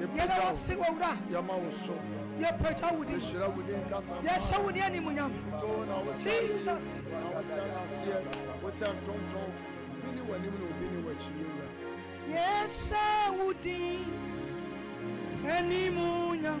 Yɛda wo ase wɔwura. Yɛma wo so. Yɛpagya wo din. Yɛhyira wo din kasa. Yɛhyɛ wo din animuonyam. Too na wo sɛ. Jesus. Na wo sɛ aseɛ. Wo sɛ ntonton. Obi ni w'anim na obi ni w'akyi yɛwura. Yɛhyɛ wo din animuonyam.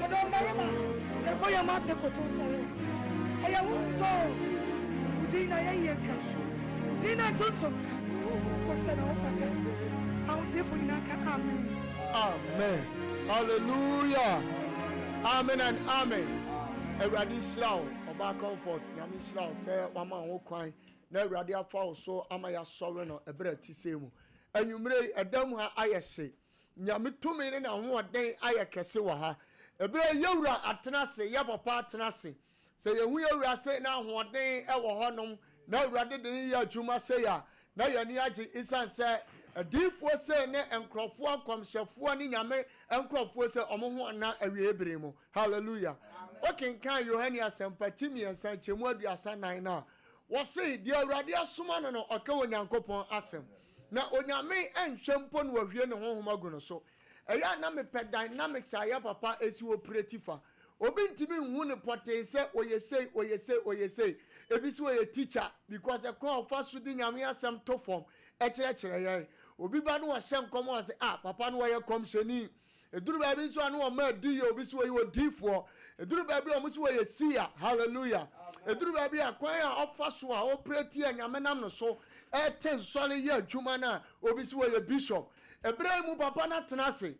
Yɛdɔ mmarima, yɛbɔ yɛn mma ase kotow sɔre o. Ɛyɛ wo dɔ o, wo din na yɛyi atwa asu. Wo din na ntontom ka, wo sɛ na wo fata. Ahoteefo nyinaa nka amen. Amen hallelujah amen and amen awurade nhyira wo ɔbaa comfort nyame nhyira wo sɛ wama wo kwan na awurade afa wo so ama yɛasɔre no ɛberɛ ti sɛ mu anwummerɛ yi ɛda mu a ayɛ hye Nyame tumi ne n'ahoɔden ayɛ kɛse wɔ ha. Ɛberɛ a yɛ wura atena ase, yɛ papa atena ase, sɛ yɛhu yɛ wura sei na ahoɔden wɔ hɔ nom, na Awurade de no yɛ adwuma sei a, na yɛn ani agye esiane sɛ adiyifoɔ sei ne nkorɔfoɔ, nkɔmhyɛfoɔ ne Nyame nkorɔfoɔ sei, wɔn ho nna awieɛ bere mu. Hallelujah. Amen. Wo kenkan Yohane asɛmpa ti mmiɛnsa nkyɛmu aduasa nan no a, wɔse, deɛ Awurade asoma no no ɔka Onyankopɔn asɛm. Amen. Na Onyame nhwɛ mpo na wahwie ne honhom agu no so. Ɛyɛ a na mepɛ dynamics a ɛyɛ papa esi operate fa. Obi ntumi nhu no pɔtee sɛ ɔyɛ sei, ɔyɛ sei, ɔyɛ sei. Ebi se ɔyɛ teacher because ɛkwan a ɔfa so de Nyame asɛm to fam kyerɛkyerɛ yɛn. Obi ba na ɔhyɛ nkɔm a ɔse ah papa no ɔyɛ kɔmhyɛni. Ɛduru baabi nso a ne wɔn mmaa di yɛ obi so wɔyi odiyifoɔ. Ɛduru baabi a wɔn so wɔyɛ siya. Hallelujah. Ɛduru baabi a kwan a ɔfa so a ɔpere tia Nyame nam no so ɛte nsɔre yɛ adwuma no a obi so wɔyɛ bishop. Ɛberɛ yi mu papa na tena ase.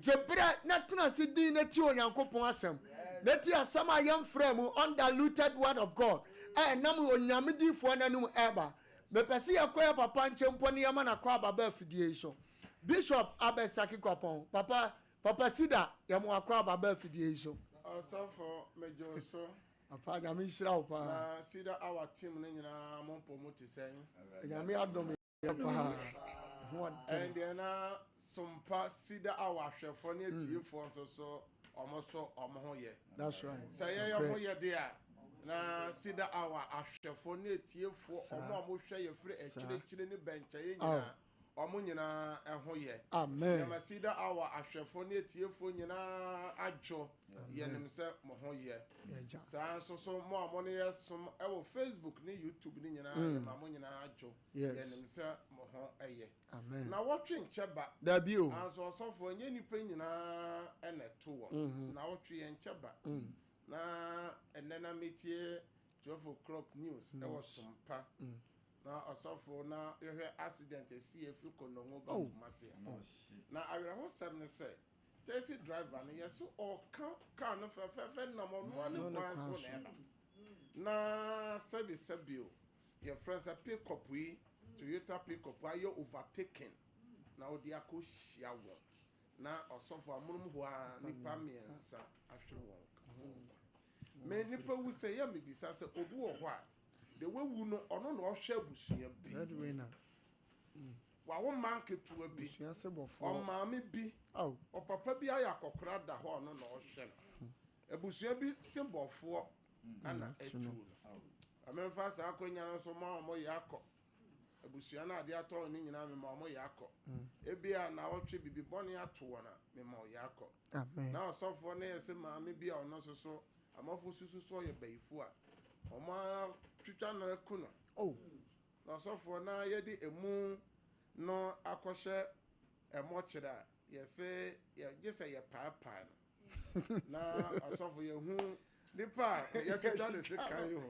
Gye berɛ na tena ase din na tie Onyankopɔn asɛm. Na tie asɛm a yɛmfraa mu, undiluted word of God, a ɛnam Onyame diyifoɔ no anom ɛba. Mepɛ sɛ yɛkɔ yɛ papa nkyɛn mpo na yɛma no akɔ aba ba afidie yi so. Bishop Abed Saki Kwapɔn, Papa, Papa Sida, yɛ mo akoa ba ba afidie yi so. Ɔsɔfo megye wo so. Papa Nyame nhyira wo paa. Na Cedar Hour team no nyinaa mo mpɔ mu te sɛn? Nyame adom yɛ paa. Ɛndeɛ na sompa Cedar Hour ahwɛfoɔ ne atiefoɔ nso so wɔn so wɔn ho yɛ. That's right. Sɛ yɛyɛ wɔn ho yɛ de a na Cedar Hour ahwɛfoɔ ne atiefoɔ wɔn a wɔhwɛ yɛ firi akyire akyire ne bɛnkyɛeɛ nyinaa. wɔn nyinaa ho yɛ. Yɛma Cedar Hour ahwɛfoɔ ne atiefoɔ nyinaa adwo. Yɛnim sɛ mo ho yɛ. Saa ara nso so mo a mo ne yɛn som wɔ Facebook ne YouTube no nyinaa, yɛma mo nyinaa adwo. Yɛnim sɛ mo ho yɛ. Nnawɔtwe nkyɛ ba. Nanso ɔsɔfo, ɛnyɛ nnipa nyinaa na ɛto wɔn. Nnawɔtwe yɛnkyɛ ba. Na ɛnnɛ na metie Twelve O'clock News ɛwɔ Sompa na ɔsɔfo na yɛhwɛ accident ɛsii ɛfiri Konongo ba Kumasi a na awerɛho sɛm ne sɛ taxi driver no yɛso ɔɔka car no fɛfɛɛfɛ nam ɔnoa ne kwan so na ɛnam na sɛbi sɛbi o yɛfrɛ sɛ pick up yi Toyota pick up ayɛ overtaking na ɔde akɔ hyia wɔn na ɔsɔfo amonom hɔ a nipa mmiɛnsa ahwere wɔn ka ho nkwa. Me nnipa wu sɛ yɛ me bisa sɛ obi wɔ hɔ a deɛ wawu no ɔno na ɔhwɛ abusua bi wawo mma nketewa bi ɔmaame bi ɔpapa bi ayɛ akɔkora da hɔ ɔno na ɔhwɛ no hmm. abusua bi se bɔfoɔ hmm. ana atuo no ɔmemfa saa akɔnya no nso ma ɔmo yɛ akɔ Abusua no a ade atɔ wɔn no nyinaa, mema wɔyɛ akɔ. Ebia nnawɔtwe biribi bɔne ato wɔn a, mema wɔyɛ akɔ. Ná ɔsɔfoɔ no yɛ sɛ maame bi a ɔno nso so amanfoɔ susu sɛ ɔyɛ bayifoɔ a, wɔatwitwa no aku no. Na ɔsɔfoɔ no ara yɛde emu no akɔhyɛ ɛmɔ kyerɛ a, yɛse gye sɛ yɛpaapae no. na asɔfo yɛhu nipa a yɛtwitwa ne sekan ho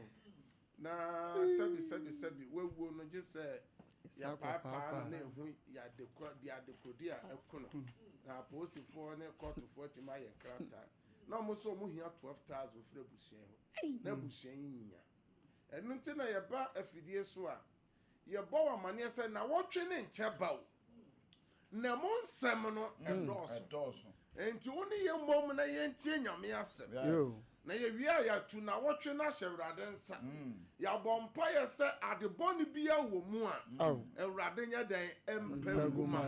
na sɛbi sɛbi sɛbi wawuo no gye sɛ yɛpaapaa no na ɛhu yɛadekora de adekorodi a ɛko no na apolisifoɔ ne kɔɔtofoɔ atumi ayɛ nkrataa na wɔn nso wɔn hia twelve thousand firi abusua yi hɔ na abusua yi nyia ɛno nti na yɛba afidie so a Yɛbɔ wo amaneɛ sɛ nawɔtwe ne nkyɛ ba o na mo nsɛm no mm, ɛdɔɔso nti wo ne yɛ mmom na yɛntie nyame asɛm na yɛwie a yɛatu nawɔtwe no ahyɛ awurade nsa mm. yɛabɔ mpayɛ sɛ ade bɔne bia wɔ mu a awurade nyɛ dɛn mpɛ ngu ma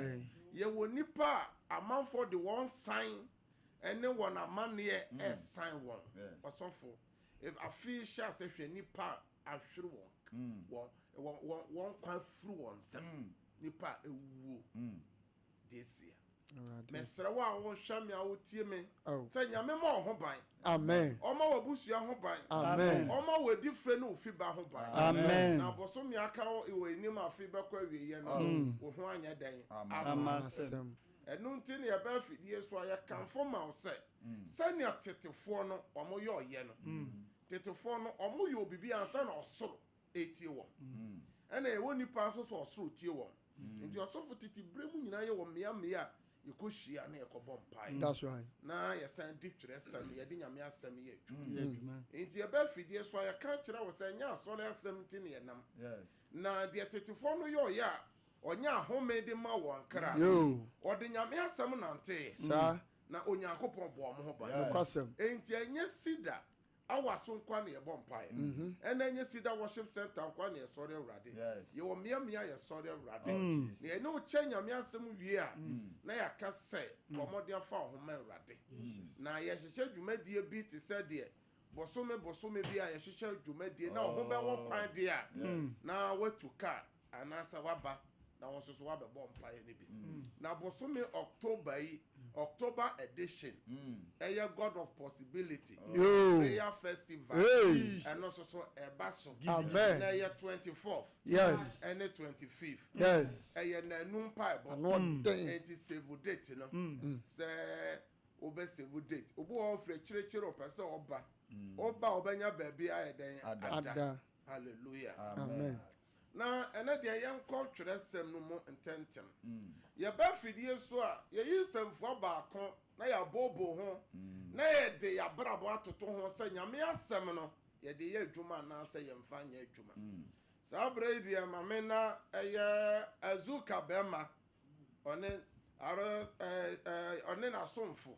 yɛwɔ nnipa a amanfoɔ de wɔn san ɛne wɔn amanneɛ mm. ɛsan wɔn ɔsɔfo afei hyɛ asɛ hwɛ nnipa a ahwere wɔn, wɔn, wɔn, wɔn, wɔn nkwa afiri wɔn nsam, nnipa a awuo deɛ seɛ. Mesrɛ wo a wohwɛ me a wotie me, sɛ Nyame ma wo ho ban, Ɔma w'abusua ho ban, Ɔma wo adifire ne wo fi ba ho ban, na bosome aka wo wɔ anim a afei bɛkɔ awieɛ no, wo ho anyɛ dɛn ama asɛm. Ɛno nti na yɛba afidie so a yɛkamfo ma wo sɛ, sɛnea tetefoɔ no wɔyɔeɛ no, Tetefoɔ no, wɔyɔɔ biribi ansa na ɔsoro retie wɔn. Ɛna yɛwɔ nnipa nso so ɔsoro tie wɔn. Nti ɔsɔfo tete berɛ mu nyinaa yɛwɔ mmea mmea a yɛkɔhyia na yɛkɔbɔ mpaeɛ. That's right. Na yɛsan di twerɛsɛm, yɛde Nyame asɛm yɛ adwuma. Nti yɛba afidie so a, yɛka kyerɛ wo sɛ ɛnyɛ asɔre asɛm nti na yɛnam. Na deɛ tetefoɔ no yɔeɛ a, ɔnya ahome de ma wɔn kra. Ɔde Nyame asɛm nanteeɛ. Na Onyankopɔn bɔɔ mo ho ban. Enti ɛnyɛ Cedar Awa so nkoa na yɛbɔ mpaeɛ. Ɛna ɛnyɛ Cedar Worship Centre nkoa na yɛsɔre Awurade. Yɛwɔ mmea mmea a yɛsɔre Awurade. Na yɛne wo kyɛ Nyame asɛm wie a, na yɛaka sɛ, Bɔ mmɔden fa wo ho ma Awurade. Na yɛhyehyɛ dwumadie bi te sɛ deɛ Bosome bosome bi a yɛhyehyɛ dwumadie na wo ho bɛwɔ kwan deɛ a, na woatu kaa anaasɛ woaba na wo nso so woabɛbɔ mpaeɛ no bi. Na bosome October yi, October edition, ɛyɛ God of Possibility Prayer Festival, ɛno nso so ɛba so. Na ɛyɛ twenty fourth ɛne twenty fifth, ɛyɛ nnanu mpaebɔ. Enti save date no sɛ. Wo bɛ save date. Obi wɔ hɔ ɔfrɛ kyerekyere ɔpɛ sɛ ɔba. Ɔba a ɔbɛnya baabi ayɛ dɛn ada. Hallelujah. Amen. Na ɛnɛ deɛ yɛnkɔ twerɛsɛm no mu ntɛntɛm. Yɛba afidie so a, yɛyi nsɛmfua baako na yɛabooboo ho na yɛde yɛn abrabɔ atoto ho sɛ Nyame asɛm no yɛde yɛ adwuma anaasɛ yɛmfa nyɛ adwuma. Saa berɛ yi deɛ ma me na ɛyɛ Azuka bɛɛma ɔne ɔne n'asomfo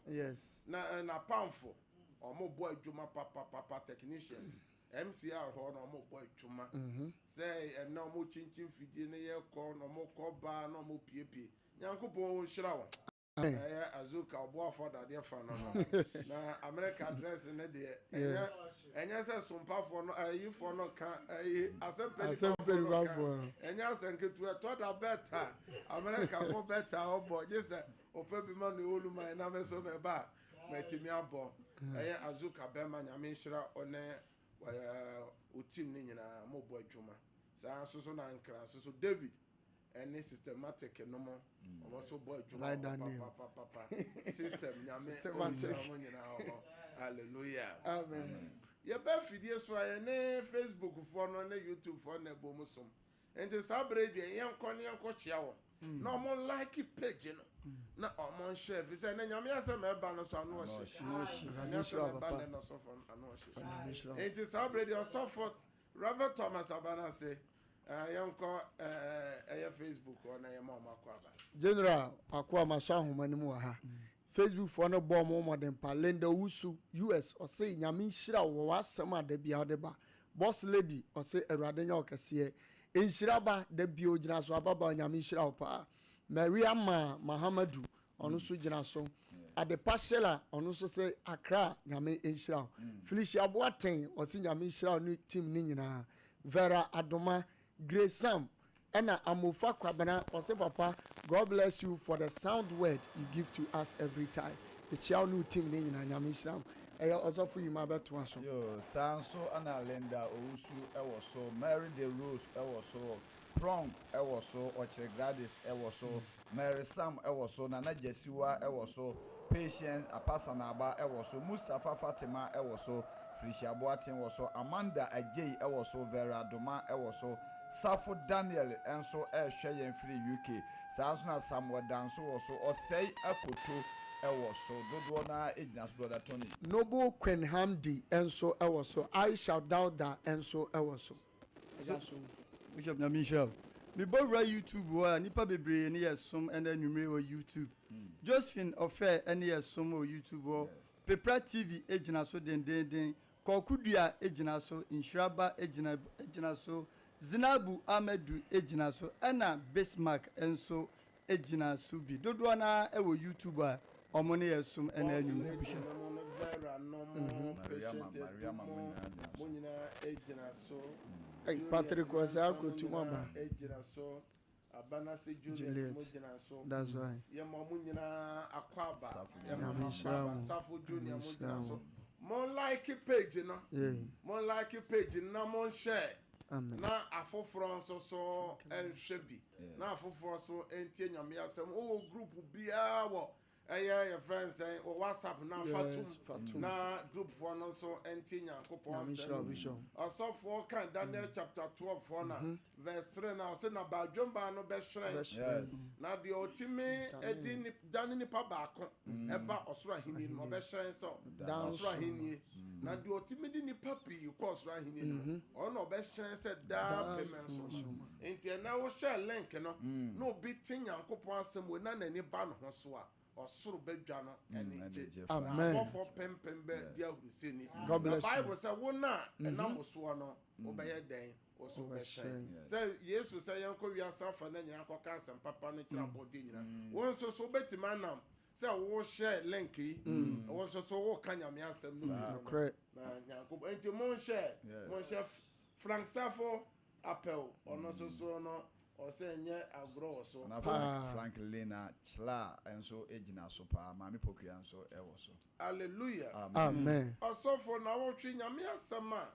na n'apamfo wɔn bɔ adwuma papapapa technicians mcr hɔ na wɔn bɔ adwuma mhm. sɛ ɛnna wɔn kyinkyin fidie no yɛ kɔ na wɔn kɔ baa na wɔn piepie nyankopɔn wɔn nhyira wɔn ɛyɛ azuka ɔboafo adadeɛ fa no no na america dress ne deɛ ɛyɛ Ɛnyɛ sɛ sompafoɔ no, ayifoɔ no ka, ayi, asɛmpa nipafoɔ no ka. Ɛnyɛ asɛm ketewa. Ɛtɔ da bɛta, Amerikafoɔ bɛta ɔbɔ, gye sɛ ɔpɛ bi ma ne ɔlu man na me so mɛba a, matumi abɔ. Ɛyɛ Azuka bɛma, Nyame nhyira ɔne wo team no nyinaa, mobɔ adwuma. Saa nso so na Ankra nso so, David. ɛne systematic no mo wɔn nso bɔ adwuma hɔ papapapa system nyame ɔnhyira wɔn nyinaa wɔ hɔ hallelujah amen yɛbɛ fidie so a yɛne facebook foɔ no ne youtube foɔ na ɛbɔ mu som nti saa bere deɛ yɛnkɔ ne yɛnkɔ kyea wɔn mm. na wɔn like page no mm. na wɔn nhyɛ fi sɛ ne nyame asɛm ɛba no so ano ɔhyɛ nyame asɛm ɛba ne no sɔfo ano ɔhyɛ nti saa bere deɛ ɔsɔfo Rev Thomas Abanase eh, yɛnkɔ eh, ɛyɛ Facebook hɔ na yɛma ɔmo akɔ aba. General Akoa masɔ ahoma no mu wɔ ha. Mm. Facebook foɔ no bɔɔ mo mmɔden pa. Linda Owusu US ɔse nyame nhyira wo wɔ w'asɛm a da bia wode ba. Boss Lady ɔse awurade nyɛ wo kɛseɛ. Nhyira ba da bia ogyina so ababaa nyame nhyira wo paa. Maria Maa Mahamadu Ɔno nso gyina so. Adepa Shella ɔno nso sɛ Accra Nyame nhyira wo. Mm. Felicia Boateng ɔse Nyame nhyira wo ne team ne nyinaa. Vera Adoma, Grace Sam ɛna Amofa Kwabena ɔse papa God bless you for the sound word you give to us every time. Mekyia wo ne wo team ne nyinaa Nyame nhyira wo. Ɛyɛ ɔsɔfo Yuma bɛtoa so. Yo, saa nso ɛna Linda Owusu ɛwɔ so, Mary De Rose ɛwɔ so, Prong ɛwɔ so, Ɔkyere Gladys ɛwɔ so. Mm. Mary Sam wɔ so, Nana Gyasiwa wɔ so, Patience Apasanaba wɔ so, Mustapha Fatima wɔ so, Felicia Boateng wɔ so, Amanda Agyei wɔ so, Vera Doma wɔ so, Safo Daniel nso rehwɛ yɛn firi UK. Saa ara nso na Samuel Danso wɔ so, Osei Akoto wɔ so. Dodoɔ no ara gyina so, Brɔda Tony. Noble Quinn Hamdi nso wɔ so, Aisha Dauda nso wɔ so. ɛda so. Bishop Nyame nhyira wo. Me bɔ wura YouTube hɔ a nipa bebree ne yɛ som ɛnɛ anwummere wɔ YouTube. Josephine Ɔfɛ ɛne yɛ som wɔ YouTube hɔ. Pepra TV ɛgyina so dendeenden. Kɔɔko Dua ɛgyina so. Nhyira Ba ɛgyina ɛgyina so. Zinabu Amadu ɛgyina so ɛna Bismark nso gyina so bi dodoɔ no ara wɔ YouTube a wɔn ne yɛn som ɛna anwummerɛ buhyɛ. Patrick ɔsɛ akotu mo aba Juliet that's why Nyame nhyira wo Nyame nhyira wo Mon like page no Mon like page no na mon share na afoforɔ nso so nhwɛ bi. na afoforɔ so ntie Nyame asɛm wɔ wɔ group biara wɔ ɛyɛ yɛ friend sɛn wɔ WhatsApp na fatum na group foɔ no nso ntie Nyankopɔn asɛm ɔsɔfoɔ kan Daniel mm. chapter 12 foɔ na mhm. verse 3 na ɔse na baadwemba no bɛhyerɛn na deɛ ɔtumi ɛdi Da no nipa baako ba ɔsoro ahenni no mu, ɔbɛhyerɛn sɛ ɔsoro ahenni, na deɛ ɔtumi de nipa pii kɔ ɔsoro ahenni no mu, ɔno na ɔbɛhyerɛn sɛ daapem nsoroma. Nti ɛnɛ wohyɛɛ link no na obi te Nyankopɔn asɛm wei na n'ani ba ne ho so a, ɔsoro bɛdwa no anigye, na abɔfoɔ pempem bɛdi ahurusini. Na Bible sɛ, Wo no a ɛnam wo soɔ no, wobɛyɛ dɛn? wɔso bɛhyɛn. Sɛ Yesu sɛ yɛnkɔ wiase afa na nyinaa kɔka asɛm papa no kyerɛ mm. abɔdeɛ nyinaa. Mm. Wɔn nso so wobɛtumi anam sɛ wohyɛ link yi mm. wɔn nso so woka nyame asɛm no bi na nyankopɔn nti monhyɛ monhyɛ franksafo apɛw ɔno nso so no ɔsɛ nyɛ agorɔ wɔ so franklina kyla nso gyina so paa maame pokua nso wɔ so alleluia amen ɔsɔfo na wɔtwe nyame asɛm a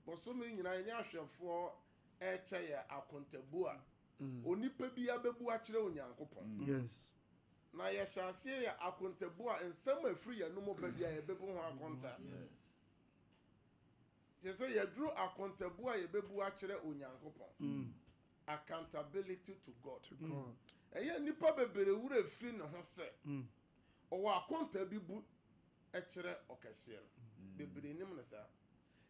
Bosome nyinaa yɛne ahwɛfoɔ rekyɛ yɛ akontabuo a onipa biara bɛbu akyerɛ Onyankopɔn. Na yɛhyɛ aseɛ yɛ akontabuo a nsɛm a ɛfiri yɛn anom ba biara yɛbɛbu ho akonta. Kyerɛ sɛ yɛduru akontabuo a yɛbɛbu akyerɛ Onyankopɔn. Mm. Accountability to God. To God. Ɛyɛ nnipa bebree werɛ fi ne ho sɛ mm. ɔwɔ akonta bi bu kyerɛ ɔkɛseɛ no. Mm. Bebree nim no saa.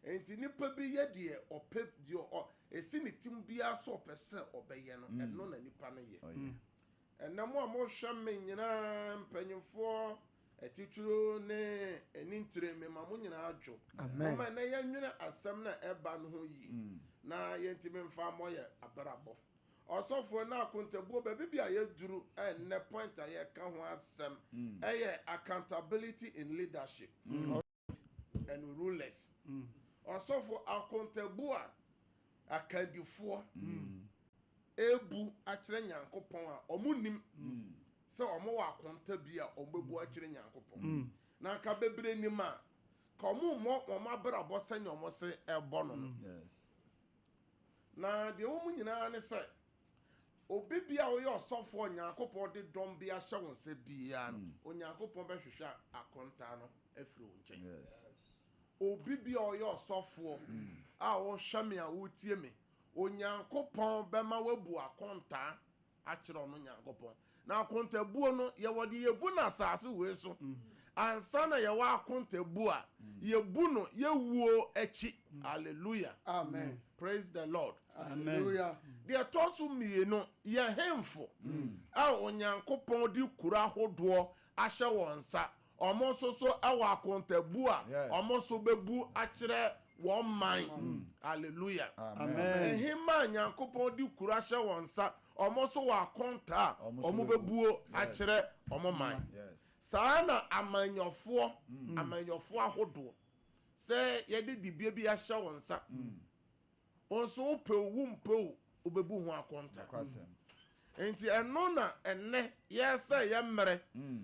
Enti nipa bi yɛ deɛ ɔpɛ deɛ ɔ esi ne tim biara sɛ ɔpɛ sɛ ɔbɛyɛ no, mm. ɛno na nipa no yɛ. Mm. Ɛnna mo a mohwɛ me nyinaa mpanyinfoɔ atitiriw ne anintire me ma mo nyinaa dwo. Moma ɛnɛ yɛnwene asɛm na ɛba no ho yie. Mm. Na yɛntumi mfa mmɔ yɛ abrabɔ. Ɔsɔfoɔ na akontabuo baabi bi a yɛduru ɛnnɛ point a yɛka ho asɛm ɛyɛ accountability in leadership and rulers ɔsɔfoɔ akontabuo a akandifoɔ ɛrebu akyerɛ Nyankopɔn a wɔn nim sɛ wɔn wɔ akonta bi a wɔn bɛbu akyerɛ Nyankopɔn na nka bebree nim a ka wɔn mmɔ wɔn abrabɔ sɛnea wɔn se ɛbɔ no no. Na deɛ ɛwɔ mu nyinaa ne sɛ, obi biara a ɔyɛ ɔsɔfoɔ a Onyankopɔn de dɔm bi ahyɛ wo nsa biara no, Onyankopɔn bɛhwehwɛ akontaa no afiri wo nkyɛn. Obi biara a ɔyɛ ɔsɔfoɔ a wohwɛ me a wotie me, Onyankopɔn bɛma woabu akontaa. akyerɛ ɔno Nyankopɔn. Na akontabuo no yɛ wɔde yɛbu no asase wei so ansa na yɛwɔ akontabuo a yɛbu no yɛwuo akyi. Alleluia. Amen. Praise the Lord. Alleluia. Deɛ ɛtɔ so mmienu, yɛ hemfo a Onyankopɔn de kuro ahodoɔ ahyɛ wɔn nsa. Wɔn nso so wɔ akontabu a wɔn nso bɛbu akyerɛ wɔn man. Hallelujah. Amen. Hema a Nyankopɔn de kura hyɛ wɔn nsa, wɔn nso wɔ akonta a wɔn bɛbuo akyerɛ wɔn man. Saa na amanyɔfoɔ, amanyɔfoɔ ahodoɔ, sɛ yɛde dibea bi ahyɛ wɔn nsa, Wo nso wopɛ o, wompɛ o, wobebu ho akonta. Enti ɛno na ɛnnɛ yɛsɛ yɛ mmerɛ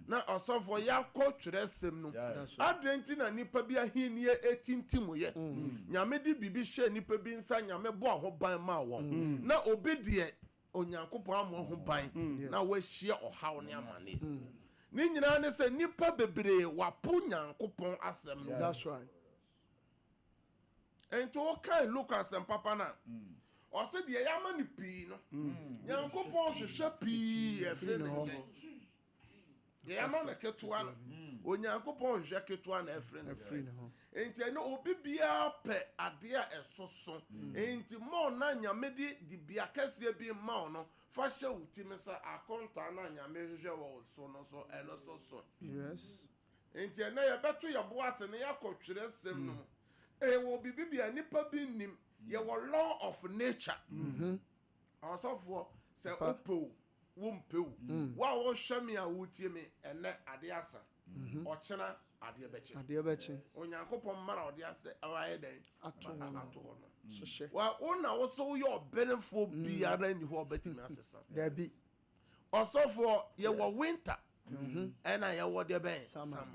na ɔsɔfoɔ yɛakɔ twerɛsɛm no. Adɛn nti na nnipa bi ahennie ɛtintim yɛ? Nyame de biribi hyɛɛ nnipa bi nsa, Nyame bɔɔ ho ban maa wɔn. Na obi deɛ Onyankopɔn ammɔ ho ban na wahyia ɔhaw ne amaneɛ. Ne nyinaa ne sɛ nnipa bebree wɔapo Nyankopɔn asɛm no. nti wokae luka asɛmpapa no a ɔsɛ deɛ yɛama no pii no nyankopɔn hwehwɛ pii ɛfiri ne nkyɛn deɛ yɛama no ketewa no onyankopɔn hwehwɛ ketewa na ɛfiri ne nkyɛn nti ɛne obi biara pɛ adeɛ a ɛsoso nti ma ɔna nyame de dibea kɛseɛ bi ma wo no fa hyɛ wo tim sɛ akontaa no a nyame hwehwɛ wɔ so no so ɛno so so yes Enti ɛnnɛ yɛbɛto yɛn bo ase na yɛakɔ twerɛsɛm no mu. Yɛwɔ biribi bi a nnipa bi nnim. Yɛwɔ law of nature. Mm-hmm. Ɔsɔfoɔ sɛ wopɛ o, wompɛ o, mm. wo a wohwɛ me a wotie me ɛnnɛ adeɛ asa. Mm-hmm. Ɔkyena adeɛ bɛkye. Adeɛ bɛkye. Onyankopɔn mmara ɔde asɛ ayɛ dɛn? Ato hɔ no. Ato hɔ no. Mm. Hyehyɛ. Wa wo na wo so woyɛ ɔbenefoɔ mm. biara nni hɔ ɔbɛtumi asesa. Dabi. Ɔsɔfoɔ yɛwɔ winter ɛna yɛwɔ deɛ bɛn summer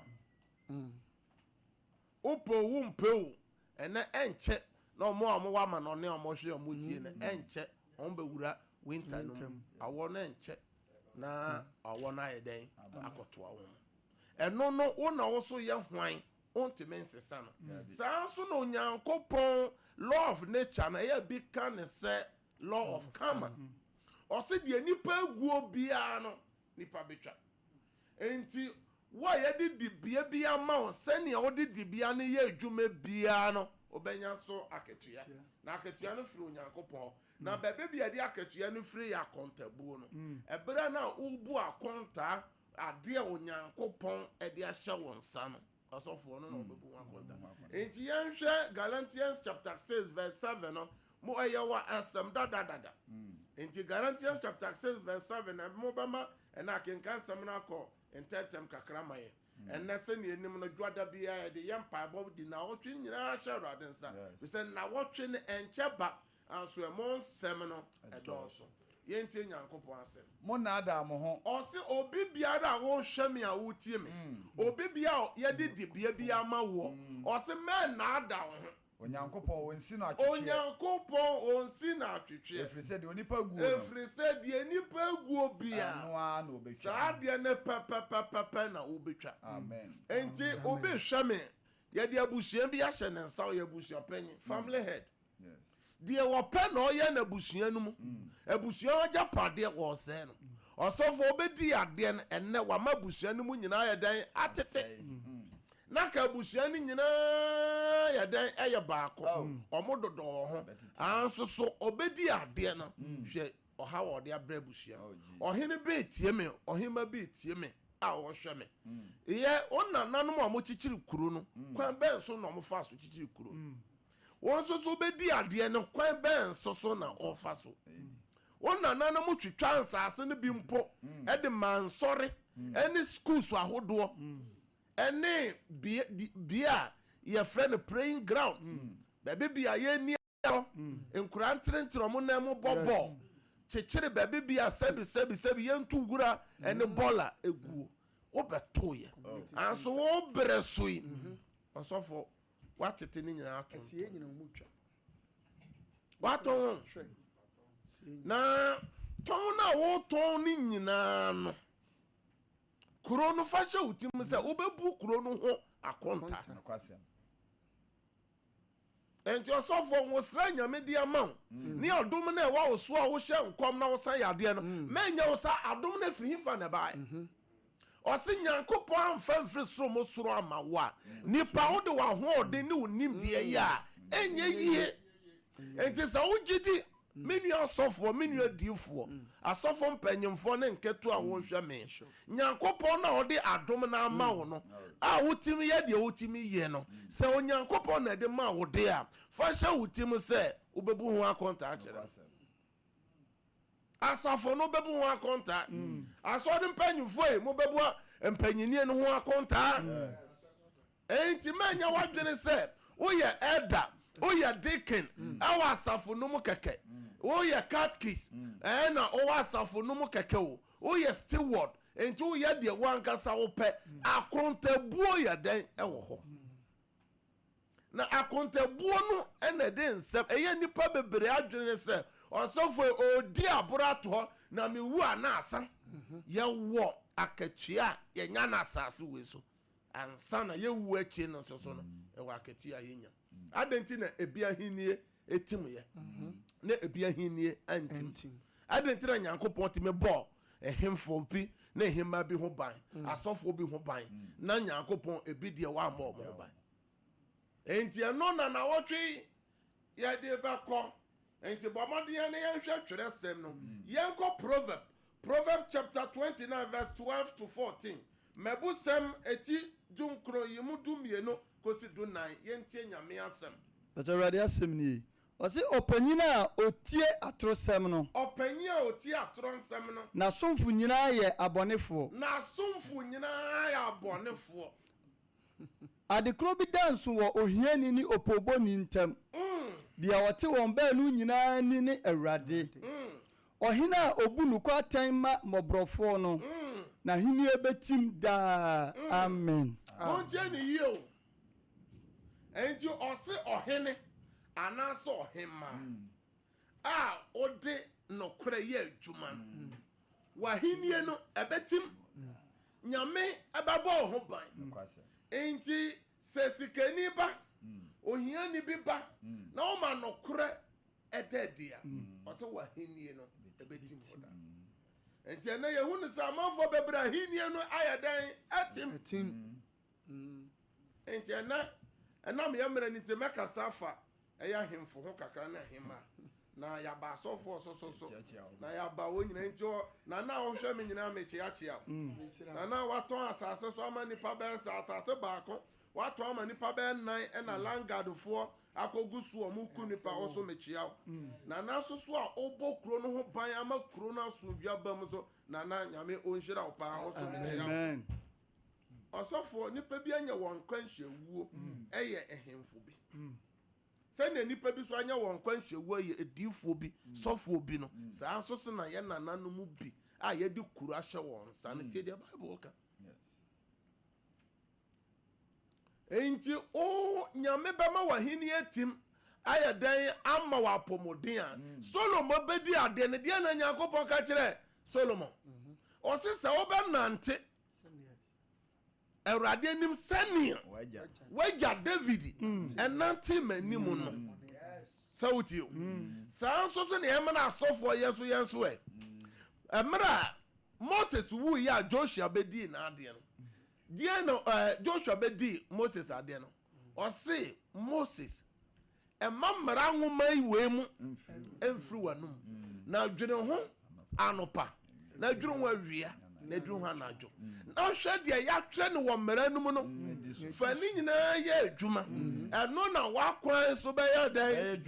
wopɛ o wompɛ o ɛnɛ ɛnkyɛ na ɔmo a ɔmo wɔ amanɔne a ɔmo hwɛ ɔmo tie no ɛnkyɛ ɔmo bɛwura winter no mu awɔ no ɛnkyɛ na awɔ no ayɛ dɛn akɔtoa wɔn ɛno no wo na wo so yɛ hwan ontumi nsesa no saa nso na onyankopɔn law of nature no ɛyɛ bi ka ne sɛ law of karma. Ɔse deɛ nipa aguo biara no nipa bɛtwa. Enti wo a yɛde dibea bi ama wo sɛdeɛ wode dibea no yɛ adwuma biara no wobɛnya so akatua. Na akatua no firi Onyankopɔn hɔ. Na baabi bi a yɛde akatua no firi yɛ akɔntabuo no. Ɛberɛ no a wobu akɔntaa adeɛ a Onyankopɔn de ahyɛ wo nsa no. Asɔfoɔ no na wɔbɛbu ho akonta. Enti yɛnhwɛ Galatians chapter 6 verse 7 no, mo ɛyɛ wɔ asɛm dadadada. Enti Galatians chapter 6 verse 7 na mobɛma ɛna akenka nsɛm no akɔ ntɛntɛm kakra ma yɛn. Ɛnɛ sɛnea ɛnim no, dwoada biara yɛde yɛ mpaebɔ de nawɔtwe nyinaa hyɛ Awurade nsa. Fisɛ nawɔtwe no ɛnkyɛ ba, Nanso ɛmo nsɛm no dɔɔso. Yɛntie Nyankopɔn asɛm. Monnaadaa mo ho. Ɔse, Obi biara a wohwɛ me a wotie me, obi biara a yɛde dibea bi ama woɔ, ɔse mɛnnaadaa wo ho. Onyankopɔn, Onsi no atwetweɛ. Onyankopɔn, Onsi no atwetweɛ. Ɛfiri sɛ deɛ onipa guo no. Ɛfiri sɛ deɛ nnipa guo biara. Ɛno ara na ɔbɛtwa. Saa adeɛ no pɛpɛpɛpɛ na wobɛtwa. Amen. Enti obi hwɛ me, yɛde abusua bi ahyɛ ne nsa, ɔyɛ abusuapanyin, family head. Deɛ ɔpɛ na ɔyɛ no abusua no mu. Abusua hɔ agyapadeɛ, wɔresɛe no. Ɔsɔfoɔ bɛdii adeɛ no, ɛnnɛ wama abusua no mu nyinaa ayɛ dɛn? Atete. Na ka abusua no nyinaa yɛ dɛn? Ɛyɛ baako. Wɔn dodɔ wɔ ho. Anso so ɔbɛdi adeɛ no. Hwɛ ɔha wɔ ɔde abrɛ abusua. Ɔhene bi retie me, ɔhema bi retie me a ɔrehwɛ me. Yɛ wo nananom a wɔkyekyere kuro no, kwan bɛn so na wɔfaa so kyekyere kuro no? Wɔn nso so bɛdi adeɛ no kwan bɛn so so na wɔfa so? Wɔn nananom twitwa nsaase no bi mpo de maa nsɔre ne schools ahodoɔ ne bea a yɛfrɛ no praying ground, baabi bi a yɛnni agorɔ, nkwadaa ntenetene wɔn nan mu bɔ bɔɔl, kyekyere baabi bi a sɛbi sɛbi sɛbi yɛnto wura ne bɔla guo. Wobɛtoeɛ. Nanso wo berɛ so yi, ɔsɔfoɔ, Woatete ne nyinaa ato. Ɛsɛ yɛn nyina wɔn mu twa. Woatɔn wɔn. Hwɛ. Na tɔn no a wotɔn ne nyinaa no, kuro no fa hyɛ wo tirim sɛ wobɛbu kuro no ho akonta. Nokwasɛm. nti ɔsɔfoɔ nwosra nyame de ama wo mm. ne adom no ɛwɔ wo so a wohyɛ nkɔm na wosa yɛ adeɛ no mɛnyɛ mm. wo sa adom no afiri hefa na ɛbaeɛ mm-hmm. Ɔse Nyankopɔn amfa amfiri soro mo soro amma wo a, nipa wode w'ahoɔden ne wo nimdeɛ yɛ a, ɛnyɛ yie. Enti sɛ wo gye di, me nua ɔsɔfoɔ, me nua diifoɔ, asɔfo mpanyimfoɔ ne nketewa a wɔhwɛ me, Nyankopɔn no a ɔde adom no ama wo no, a wotumi yɛ deɛ wotumi yɛ no, sɛ Onyankopɔn na ɛde maa wo de a, fa hyɛ wo tirim sɛ wobɛbu ho akontaa akyerɛ no. Asafo no bɛbu ho akontaa. Mm. Asɔre mpanyinfoɔ yi mobɛbu mpanyinnie no ho akontaa. Enti mɛnyɛ wadwene sɛ woyɛ ɛda woyɛ deacon mm. ɛwɔ asafo no mu kɛkɛ mm. woyɛ catkis mm. ɛɛ na ɔwɔ asafo no mu kɛkɛ o woyɛ steward nti woyɛ deɛ wankasa wopɛ akontabuo yɛ dɛn ɛwɔ hɔ Na akontabuo no na ɛde nsɛm ɛyɛ nnipa bebree adwene sɛ ɔsɔfo yi ɔredi aboro ato hɔ na mewu a na asa. Yɛwɔ akatua a yɛnya no asase wei so ansa na yɛwu akyi no nso so no ɛwɔ akatua a yɛnya. Adɛn nti na ebi ahennie ɛtim yɛ na ebi ahennie antim adɛn nti na nyankopɔn tumi bɔɔ ɛhemfo bi na ɛhemma bi ho ban mm. asɔfoɔ bi ho ban mm. na nyankopɔn ebi deɛ wammɔ ɔmo ho ban enti ɛno na nawɔtwe yɛde bɛkɔ enti bɔ mmɔden ne yɛnhwɛ twerɛsɛm no mm. yɛnkɔ proverb Proverbs chapter twenty nine verse twelve to fourteen, Mmɛbusɛm eti dunkron yi mu dumienu kosi dunnan, Yentie Nyame asɛm. Mpatsɔ Awurade asɛm nie, ɔse, Ɔpanyin a otie atorosɛm no. Ɔpanyin a otie atorɔ nsɛm no. N'asomfo nyinaa yɛ abɔnefoɔ. N'asomfo nyinaa yɛ abɔnefoɔ. Ade korɔ bi da nso wɔ ohiani ne opoobɔni ntam. Deɛ ɔte wɔn baanu nyinaa ani ne Awurade. Ɔhene a obu nokwa atɛn ma mmɔborɔfoɔ no, n'ahennie bɛtim daa. Amen. Montie no yie o. Enti ɔse ɔhene anaasɛ ɔhemmaa a ɔde nokorɛ yɛ adwuma no, w'ahennie no ɛbɛtim. Nyame bɛbɔ wo ho ban. Enti sɛ sikani ba, ohiani bi ba na woma nokorɛ ɛda adi a, ɔsɛ w'ahennie no ɛbɛtim hɔ daa. Nti ɛnɛ yɛhu no sɛ amanfoɔ bɛbrɛ ahennie no ayɛ dɛn atim. Nti ɛnɛ ɛnam yɛ mmerɛ no nti mɛkasa afa ɛyɛ ahemfo ho kakra ne ahemma na yɛaba asɔfoɔ so so so na yɛaba wɔn nyinaa nti na na wohwɛ me nyinaa mekyeakyea na na watɔn asase so ama nipa bɛyɛ sɛ asase baako Wɔatɔn ama nnipa bɛyɛ nnan na Langadfoɔ akɔgu so wɔn ku nnipa hɔ so mekyea wo. Nana nso so a wobɔ kuro no ho ban ama kuro no asomdwoe aba mu nso Nana Nyame ɔnhyira wo paa wo so mekyea wo. Ɔsɔfoɔ nnipa bi anya wɔn nkwanhyia wuo ɛyɛ ɛhenfo bi? Sɛnea nnipa bi so anya wɔn nkwanhyia wuo ɛyɛ adiyifoɔ bi, sɔfoɔ bi no, saa nso so na yɛn Nana no mu bi a yɛde kuro ahyɛ wɔn nsa no tie deɛ Bible ka. Enti wo Nyame bɛma w'ahenni atim ayɛ dɛn ama wo apɔmuden a mm. Solomon bɛdi adeɛ no deɛ na Nyankopɔn ka kyerɛ Solomon mhm. ɔse sɛ wobɛnante awurade anim sɛnea wagya David mm. ɛnante m'anim no mm. sɛ wotie o saa nso so neɛ ɛmena asɔfoɔ yɛ so yɛn so ɛ ɛmerɛ a Moses wui a Joshua bɛdii n'adeɛ no Deɛn na Joshua bɛdii Moses adeɛ no? Ɔse Moses, mma mmara nwoma yi wei mu mfiri w'anom, na dwene ho anopa, na dwene ho awia, na dwene ho anadwo, na hwɛ deɛ yɛatwerɛ no wɔ mmara no mu no, fa ne nyinaa yɛ adwuma, ɛno na w'akwan so bɛyɛ dɛn?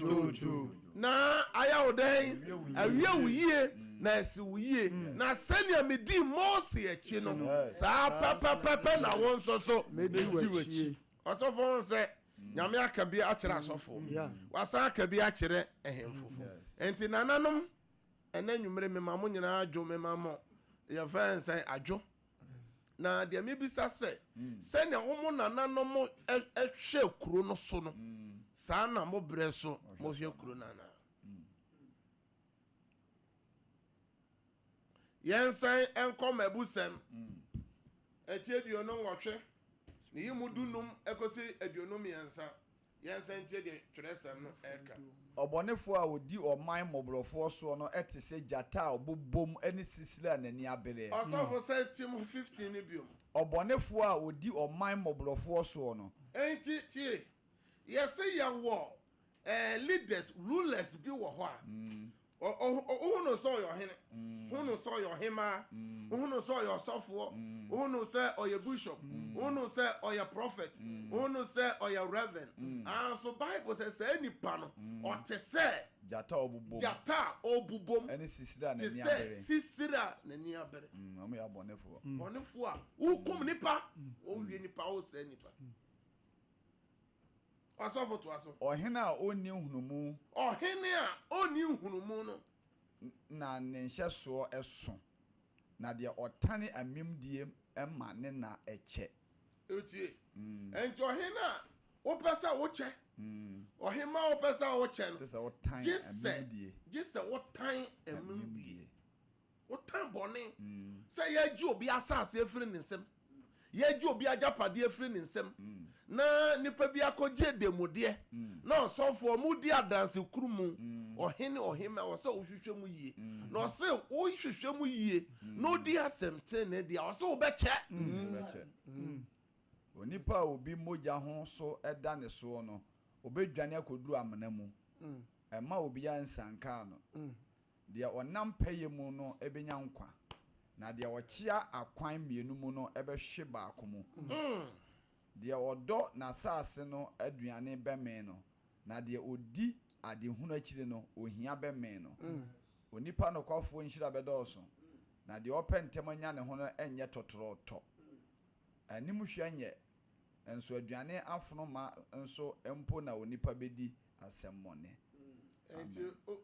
Na ayɛ wo dɛn? Awie wo yie, na asi wo yie. Na sɛdeɛ medii Mose akyi no, saa pɛpɛpɛpɛ na wo nso so mɛdi w'akyi. Ɔsɔfoɔ ho sɛ, Nyame aka bi akyerɛ asɔfoɔ, wasan aka bi akyerɛ ahemfo. Enti nananom, ɛnɛ anwummere mema mo nyinaa adwo, mema mo, yɛfrɛ no sɛn, adwo? Na deɛ mebisa sɛ, sɛdeɛ wɔn nananom hwɛ kuro no so no, saa na mo berɛ so mohwɛ kuro no anaa? Yɛnsan nkɔ mmabusɛm. Akyi aduonu nwɔtwe, ne yi mu dunum kɔsi aduonu mmiɛnsa. Yɛnsan ntie deɛ twerɛsɛm no reka. Ɔbɔnefoɔ a ɔdi ɔman mmɔborɔfoɔ soɔ no te sɛ gyata a ɔbobom ne sisire a n'ani abereɛ. Ɔsɔfo san tim fifteen no bio. Ɔbɔnefoɔ a ɔdi ɔman mmɔborɔfoɔ soɔ no. Enti tie, yɛse yɛwɔ eh, leaders, rulers, bi wɔ hɔ a, wohu no sɛ ɔyɛ ɔhene mm. wohu no sɛ ɔyɛ ɔhemaa mm. wohu no sɛ ɔyɛ ɔsɔfoɔ mm. wohu no sɛ ɔyɛ bishop wohu no sɛ ɔyɛ prophet wohu no sɛ ɔyɛ reverend anso ah, bible sɛ saa nipa no ɔte sɛ gyata a ɔbobom te sɛ sisire a n'ani abere bɔnefoɔ a wokum nipa wɔwie nipa wosɛe nipa Ɔsɔfo toa so. Ɔhene a ɔnni nhunumu. Ɔhene a ɔnni nhunumu no. Na ne nhyɛsoɔ sõ. Na deɛ ɔtane amimdie ma ne nna kyɛ. Wotie? Enti ɔhene a wopɛ sɛ wokyɛ, ɔhemmaa a wopɛ sɛ wokyɛ no, gye sɛ wotan amimdie. Wotan bɔne. Sɛ yɛregye obi asase afiri ne nsam, yɛregye obi agyapadeɛ afiri ne nsam, na nipa bi akɔgye ademudeɛ, na ɔsɔfoɔ, modi adanse koro mu, ɔhene, ɔhemmaa, ɛwɔ sɛ wohwehwɛ mu yie. Na ɔse wohwehwɛ mu yie, na odi asɛm tenenee deɛ a, ɔse wobɛkyɛ. Wobɛkyɛ. Onipa a obi mogya ho so da ne soɔ no, ɔbɛdwane akɔduru amena mu. Mma obiara nsiankaa no. Deɛ ɔnam pɛyɛ mu no bɛnya nkwa, na deɛ ɔkyea akwan mmienu mu no bɛhwe baako mu. Deɛ ɔdɔ n'asase no aduane bɛmee no, na deɛ ɔdi adehunu akyiri no, ohia bɛmee no. Onipa nokwafoɔ nhyira bɛdɔɔso, na deɛ ɔpɛ ntɛm anya ne ho no nyɛ tɔtorɔtɔ. Animhwɛ nyɛ Nso aduane afono ma nso mpo na onipa bedi asɛmmɔne. Enti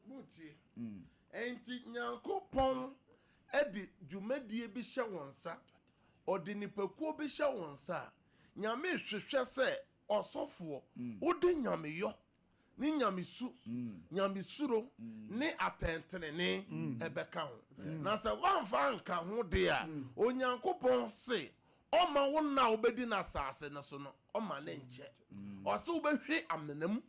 motie. Enti Nyankopɔn de dwumadie bi hyɛ wo nsa, Ɔde nnipakuo bi hyɛ wo nsa a, Nyame hwehwɛ sɛ, ɔsɔfoɔ, wode Nyameyɔ ne nyamesu, nyamesuro, ne atɛntenenee bɛka ho. Na sɛ woamfa anka ho de a, Onyankopɔn se ɔmma wo nna a wobɛdi no asase no so no, ɔmma no nkyɛ. Ɔse wobɛhwe amena mu.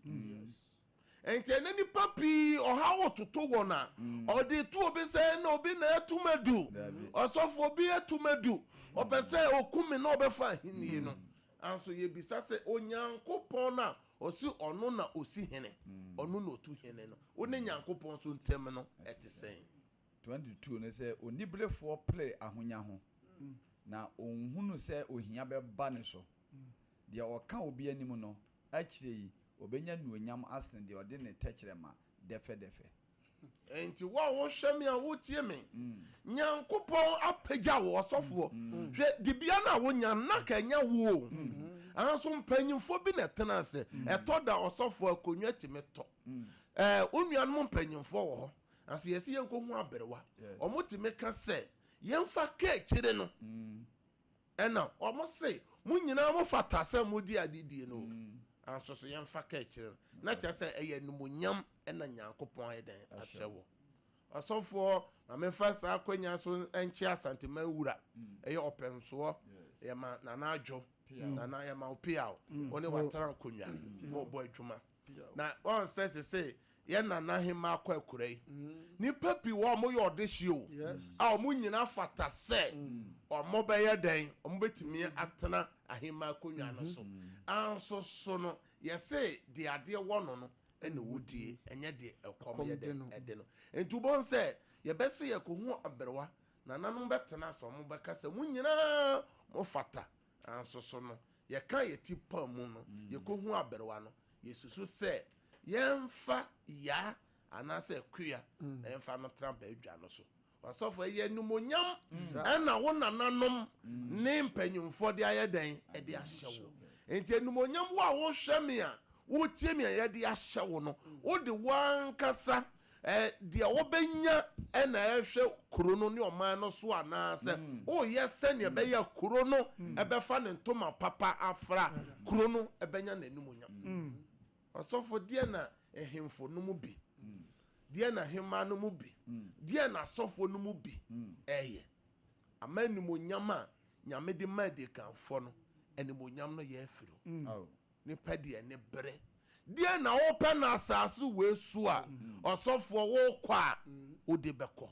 Enti ɛnɛ nnipa pii ɔhaw toto wɔn a, ɔde to obi sɛ na obi na atum adu, ɔsɔfoɔ bi atum adu, ɔpɛ sɛ ɔku me na ɔbɛfa ahennie no. Nanso yɛbisa sɛ, Onyankopɔn a Ɔse ɔno na ɔsi hene, ɔno na ɔtu hene no. Wo ne Nyankopɔn nso ntam no, ɛte sɛn? 22 no sɛ, Oniberefoɔ pere ahonya ho, na ɔnhunu sɛ ohia bɛba ne so. Deɛ ɔka obi anim no, akyire yi ɔbɛnya anuonyam asene deɛ ɔde ne tɛkyerɛma dɛfɛdɛfɛ. Enti wo a wohwɛ me a wotie me, Nyankopɔn apagya wo ɔsɔfoɔ. Hwɛ, dibea no a wonya no na ka ɛnyɛ wo o. Nanso mpanyimfoɔ bi na ɛtena ase. Ɛtɔ da ɔsɔfoɔ akonnwa tumi tɔ. Wo nuanom mpanyimfoɔ wɔ hɔ, nanso yɛsɛ yɛnkɔhu aberewa. Wɔtumi ka sɛ, Yɛmfa kaakyire no. Ɛna wɔn se mo nyinaa mo fata sɛ mo di ade die no. Nanso so yɛn fa ka akyire no, na kyerɛ sɛ ɛyɛ animonyam ɛna Nyankopɔn ayɛ dɛn ahyɛ wɔ. Ɔsɔfoɔ, ma me nfa saa akwanya so nkyɛ Asanteman wura, ɛyɛ ɔpɛmsoɔ, yɛma Nana Adwo, Nana yɛma wo peaw, wo ne watena nkonwa, mo bɔ adwuma. Na wɔn sɛ sese yɛn nana hema akɔ akura yi nipa pii wɔ wɔn yɛ ɔdehye o a wɔn nyinaa fata sɛ wɔn bɛyɛ dɛn wɔn betumi atena ahema akonnwa no so anso so no yɛse deɛ adeɛ wɔ no no ɛna wodie ɛnyɛ deɛ ɛkɔm yɛ dɛn ɛde no nti wɔn sɛ yɛbɛse yɛkɔ hu aberewa nananom bɛtena sɛ wɔn bɛka sɛ wɔn nyinaa wɔn fata Nanso so no yɛka yɛn ti pɔn mu no, yekohu aberewa no, yesusu sɛ yɛmfa yaa anaasɛ akuya mfa no tra badwa no so? Ɔsɔfo, ɛyɛ animuonyam na wo nananom ne mpanyimfoɔ de ayɛ dɛn? De ahyɛ wo. Enti animuonyam wo a wohwɛ me a Wotie nea yɛde ahyɛ wo no. Wode w'ankasa deɛ wobɛnya na ɛrehwɛ kuro no ne ɔman no so anaasɛ woyɛ sɛdeɛ ɛbɛyɛ a kuro no bɛfa ne ntoma papa afra, kuro no bɛnya n'animuonyam? Ɔsɔfo, deɛ na ahemfo no mu bi, deɛ na ahemmaa no mu bi, deɛ na asɔfoɔ no mu bi ɛyɛ? Ama animuonyam a Nyame de ma adikanfoɔ no, animuonyam no yɛ afiri hɔ. Ne pɛ deɛ ne bere deɛ na wo pɛ no asase wei so a ɔsɔfoɔ wo kɔ a wo de bɛ kɔ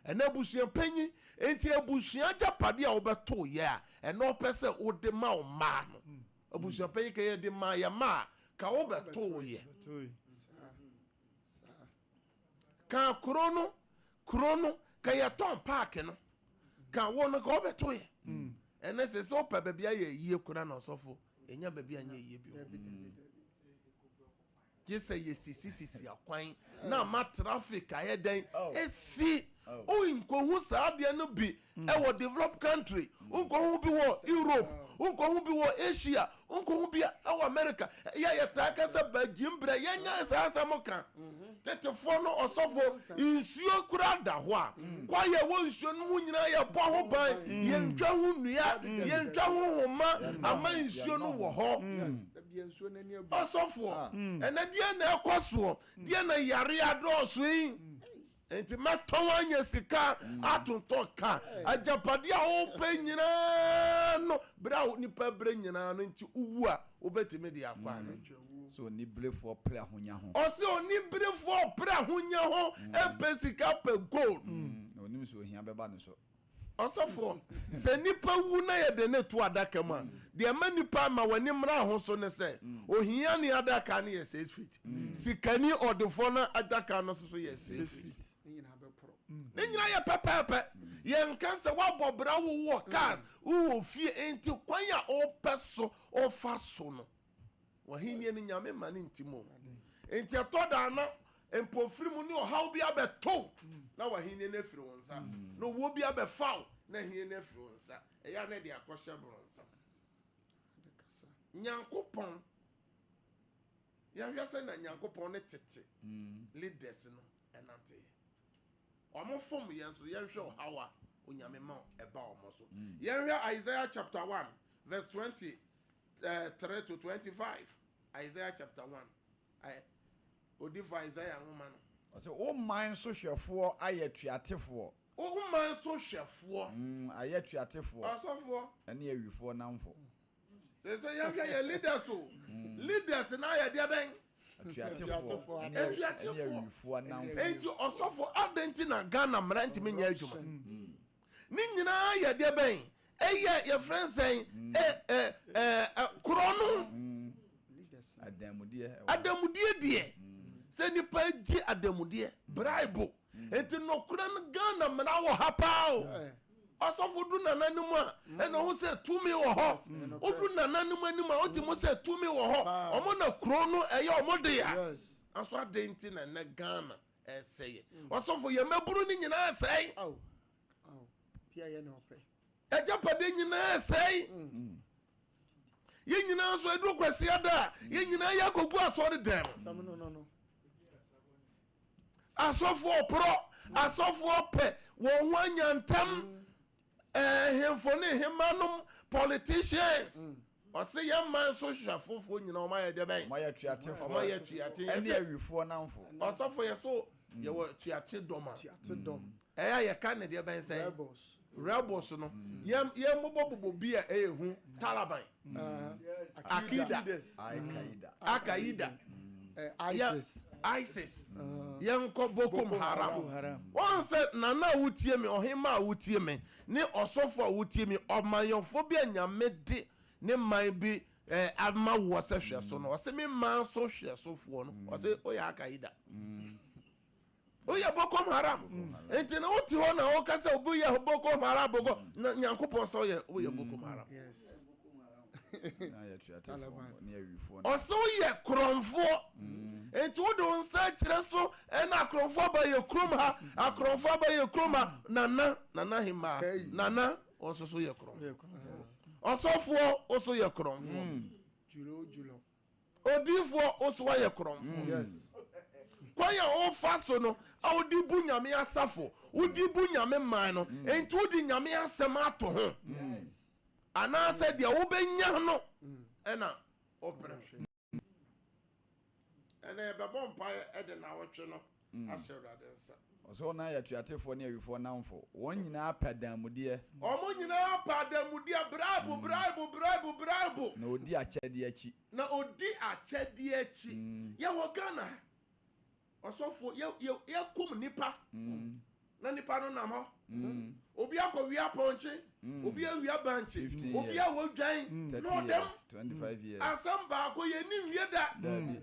ɛna abusua panyin nti abusua agyapadeɛ a wo bɛ to yɛ a ɛna ɔpɛ sɛ wo de ma wo mmaa no abusua panyin kɛ yɛ de ma yɛ mmaa ka wo bɛ to yɛ. Ka kuro no kuro no ka yɛtɔn paaki no ka wo no ka wobɛto yɛ ɛnɛ sɛ sɛ wopɛ baabi ayɛ yie kora na ɔsɔfo ɛnya baabi anyɛ yie bio gye sɛ yɛsisisisi akwan na ama traffic ayɛ dɛn ɛsi wonkɔhu saa adeɛ no bi ɛwɔ developed country wonkɔ ho bi wɔ europe wonkɔ ho bi wɔ asia wonkɔ ho bi ɛwɔ america ɛyɛ a yɛtaa ka sɛ bagyim berɛ yɛnyae saa asɛm ka tetefoɔ no ɔsɔfoɔ nsuo kura da hɔ a kwaeɛ ɛwɔ nsuo no ho nyinaa yɛbɔ ho ban yɛntwa ho nnua yɛntwa ho homa ama nsuo no wɔ hɔ ɔsɔfoɔ ɛnɛ deɛ na ɛkɔ soɔ deɛ na yare adɔɔso yi Enti mɛtɔn anya sika, atontɔ ka, agyapadeɛ a wopɛ nyinaa no berɛ a nnipa brɛ nyinaa no nti wowu a wobɛtumi de akɔ anaa? Sɛ oniberefoɔ pere ahonya ho. Ɔse oniberefoɔ pere ahonya ho pɛ sika pɛ gold. Na ɔnim sɛ ohia bɛba ne so. Ɔsɔfoɔ, sɛ nnipa wu na yɛde no to adaka mu a, deɛ ɛma nnipa ma wɔani mmra ho so ne sɛ, ohiani adaka no yɛ six feet, sikani ɔdefoɔ no adaka no nso so yɛ six feet. Ne nyinaa yɛ pɛpɛɛpɛ. Yɛnka sɛ woabɔ bra, wowɔ cars, wowɔ fie, enti kwan a wopɛ so wofa so no. W'ahenni no Nyame mma no nti mo. Enti ɛtɔ da na mpofiri mu ne ɔhaw bi abɛto wo na w'ahenni no afiri wo nsa, na owuo bi abɛfa wo na ahenni no afiri wo nsa. Ɛyɛ a na ɛde akɔhyɛ borɔnsam. Nyankopɔn, yɛhwɛ sɛ na Nyankopɔn ne tete leaders no ɛnanteɛ. Wɔn fom yɛn so yɛnhwɛ ɔhaw a onyame ma ɛba wɔn so. Yɛnhwɛ Isaiah chapter one verse twenty eh, 3 to 25 isaiah chapter 1 ayɛ odifo isaiah nwoma no Ɔsɛ wo man so hwɛfoɔ ayɛ tuatefoɔ. Wo man so hwɛfoɔ. Mm, ayɛ tuatefoɔ. Ɔsɔfoɔ. Ɛne awifoɔ namfo. Sɛ sɛ yɛhwɛ yɛ leaders o. Mm. Leaders na ayɛ deɛ bɛn? Atuatefoɔ. Atuatefoɔ. Ɛne awifoɔ namfo. Enti ɔsɔfoɔ adɛn ti na Ghana mmara ntumi nyɛ adwuma? Mm. Ne nyinaa yɛ deɛ bɛn? Ɛyɛ yɛfrɛ no sɛn? Mm. Ɛ, ɛ, ɛ, ɛ, korɔ no. Mm. Adanmudeɛ. Adanmudeɛ deɛ. Mm. Sɛ nipa gye adanmudeɛ. Mm. Braibo. Mm. Nti nokorɛ no Ghana mmara wɔ ha paa o. Yeah. Ɔsɔfo du nana no mu a mm. ɛna ɔho sɛ tumi wɔ hɔ. Mm. Odu nana no mu anim a ɔte mu mm. sɛ tumi wɔ hɔ. Ɔmo na kuro no ɛyɛ ɔmo de a. Yes. Aso adan ti na ɛnɛ Ghana. ɛsɛeɛ. Ɔsɔfo, yɛn mmabunu no nyinaa resɛe. Ao, ao, pia yɛ na ɔpɛ. Agyapadeɛ nyinaa resɛe. Mm. Yɛn nyinaa nso ɛduru kwasia da a, mm. yɛn nyinaa yɛ akɔgu asɔre dɛm. Asɛm no no no. Asɔfoɔ porɔ, mm. asɔfoɔ pɛ wɔn ho anya ntam. Mm. Ɛhemfo ne hemmanom politicians. Ɔse yɛn man so hwɛfofoɔ nyinaa wɔn ayɛ deɛ bɛn? Wɔn ayɛ atuatefoɔ. Wɔn ayɛ atuate. Ɛne awifoɔ namfo. Ɔsɔfo yɛ so yɛwɔ atuate dɔm a. Atuate dɔm. Ɛyɛ a yɛka ne deɛ bɛn sɛn? Rebels. Rebels no yɛn yɛn bobɔ bobɔ bi a ɛyɛ hu talaban. akida akaida isis yɛnkɔ bokom haram wɔn sɛ nana a wotie me ɔhema a wotie me ne ɔsɔfo a wotie me ɔmanyɔfo bi a nyame de ne man bi eh, ama woɔ sɛ hwɛ so no ɔse me man so hwɛ sofoɔ no ɔse woyɛ akaida mm. woyɛ boko haram nti na wote hɔ na woka sɛ woyɛ boko haram boko na nyankopɔn sɛ woyɛ woyɛ boko mm, haram ɔsɛ woyɛ korɔmfoɔ mm. nti wode wo nsa kyerɛ so ɛna akorɔmfoɔ aba yɛ kurom ha mm. akorɔmfoɔ aba yɛ kurom ha nana nana hemaa nana ɔso so yɛ korɔmfoɔ ɔsɔfoɔ wo so yɛ korɔmfoɔ Odiyifoɔ, wo so woayɛ korɔmfoɔ. Kwan a wofa so no, a wode bu Nyame asafo, wode bu Nyame man no, enti wode Nyame asɛm ato ho? Anaasɛ deɛ wobɛnya no na wopere ho? Ɛnna yɛbɛbɔ mpaeɛ de nnawɔtwe no ahyɛ Awurade nsa. Ɔsɛ wɔn a yɛ atuatefoɔ ne awifoɔ nnamfo. Wɔn nyinaa pɛ adanmudeɛ. Wɔn nyinaa pɛ adanmudeɛ, braibo, braibo, braibo, braibo. Na wɔdi akyɛdeɛ akyi. Na wɔdi akyɛdeɛ akyi. Yɛwɔ Ghana ha, ɔsɔfoɔ, yɛ, yɛ, yɛkum nnipa, na nnipa no nam hɔ. Obi akɔwia pɔnkye, obi awia bankye, obi a wɔdwan, na ɔdam. Asɛm baako, yɛnni nwie da. Daabi.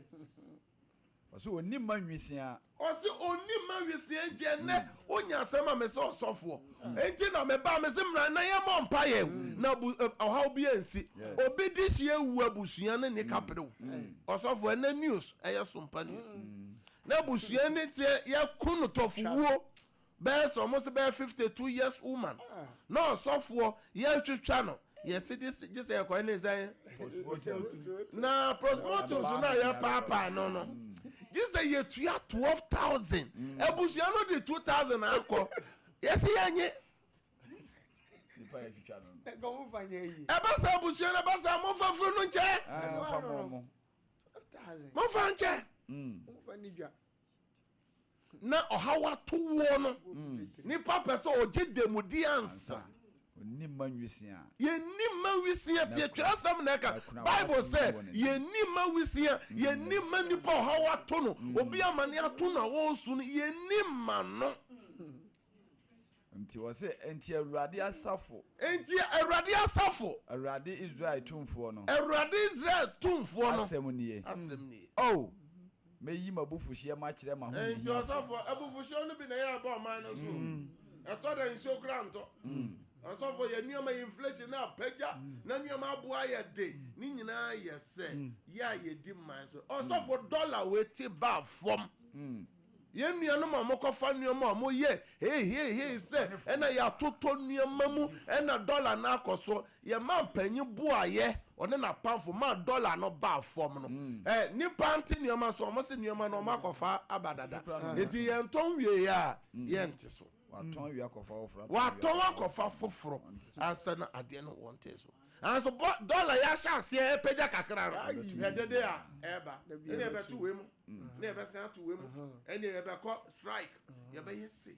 Ɔse onni mma nwisiaa. Ɔse onni mma nwisiaa nti ɛnnɛ onya asɛm ma me sɛ ɔsɔfoɔ nti na me baa mese mmra na yɛ mmɔ mpaeɛ na ɔhaw bi ansi obi de hyɛ awu abusua no nni kaperew ɔsɔfoɔ ɛnɛ news ɛyɛ sompa news na abusua no sɛ yɛko no tɔfowuo bɛyɛ sɛ ɔmo se bɛyɛ fifty two years woman na ɔsɔfoɔ yɛtwitwa no yɛse de gye sɛ yɛkɔyɛ ne sɛn postmortem na postmortem so na yɛpaapaa no no gye sɛ yɛtua twelve thousand mm. abusua no de two thousand akɔ yɛse yɛnye ɛba sɛ abusua no ɛba sɛ mofa firi no nkyɛ ah, mofa nkyɛ mm. na ɔhaw ato woɔ no, nipa pɛ sɛ ɔgye dɛmudie ansa. Ɔnni mma nwisiaa. Yɛnni mma nwisiaa, tie twerɛsɛm na ɛka, Bible sɛ yɛnni mma nwisiaa, yɛnni mma nipa a ɔhaw ato no, obi amane ato no a ɔresu no, yɛnni mma no. Nti ɔse, Nti Awurade asafo. Nti Awurade asafo. Awurade Israel Tumfoɔ no. Awurade Israel Tumfoɔ no. Asɛm nie. Asɛm nie. O! Mɛyi m'abufuhyeɛ makyerɛ m'ahohiahiafoɔ. Nti ɔsɔfoɔ, abufuhyeɛ no bi na ɛyɛ ɛba ɔman no so o. Ɛtɔ da nsuo koraa ntɔ. Ɔsɔfoɔ, yɛn nneɛma, inflation no apagya, na nneɛma abo ayɛ den. Ne nyinaa yɛ sɛ, yɛ a yɛdi mman so. Ɔsɔfoɔ, dɔla wei te baa fam. Yɛn nuanom a wɔkɔfa nneɛma a wɔyɛ heiheiheihei sɛ ɛna yɛatotɔ nneɛma mu na dɔla no akɔ so. Yɛn mampanyin boaeɛ, ɔne n'apamfo maa dɔla no baa fam no. Nnipa nte nneɛma so, wɔse nneɛma no wɔakɔfa aba dada, enti yɛntɔn wieeɛ a yɛnte so. Wɔatɔn akɔfa foforɔ ansa na adeɛ no wɔnte so. Nanso bɔ dɔla yi ahyɛ aseɛ repagya kakra no. Ayi ɛdede a ɛreba ɛna yɛbɛto wei mu na yɛbɛsan ato wei mu ɛna yɛbɛkɔ strike yɛbɛyɛ se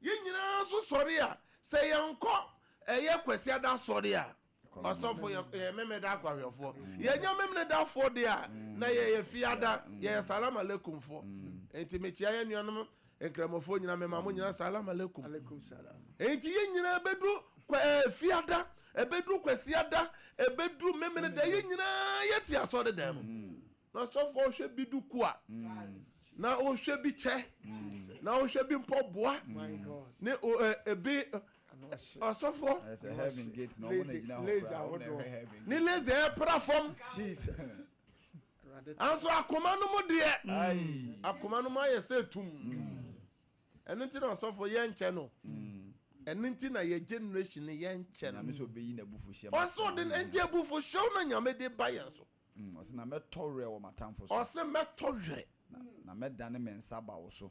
yɛn nyinaa nso sɔre a sɛ yɛnkɔ ɛyɛ kwasiada sɔre a ɔsɔfo yɛ memeda akwahwɛfoɔ yɛnyɛ memedafoɔ deɛ a na yɛyɛ fiada yɛyɛ salam aleikumfoɔ nti mekyia yɛn nuanom Nkramofoɔ nyinaa me ma mo nyinaa salam alaikum. Alaikum salam. Enti yɛn nyinaa ɛbɛduru kwafiada, ɛbɛduru kwasiada, ɛbɛduru memeneda, yɛn nyinaa yɛte asɔre dan mu. Mm. Na sɔfoɔ ɔhwɛ bi dukua, mm. na ɔhwɛ bi kyɛ, mm. na ɔhwɛ bi mpɔboa, ne ebe ɔsɔfoɔ ne laser ɛpra fam. Nanso akoma no mu deɛ, akoma no mu ayɛ sɛ tum. Ɛno nti na ɔsɔfo yɛnkyɛ no. Ɛno nti na yɛ generation no yɛnkyɛ no. Ɔsɛ ɔde no nti abufuhyew na Nyame de ba yɛn so. Ɔsɛ mɛtɔ werɛ wɔ m'atamfo so. Ɔsɛ mɛtɔ werɛ. Na mɛdane me nsa aba wo so.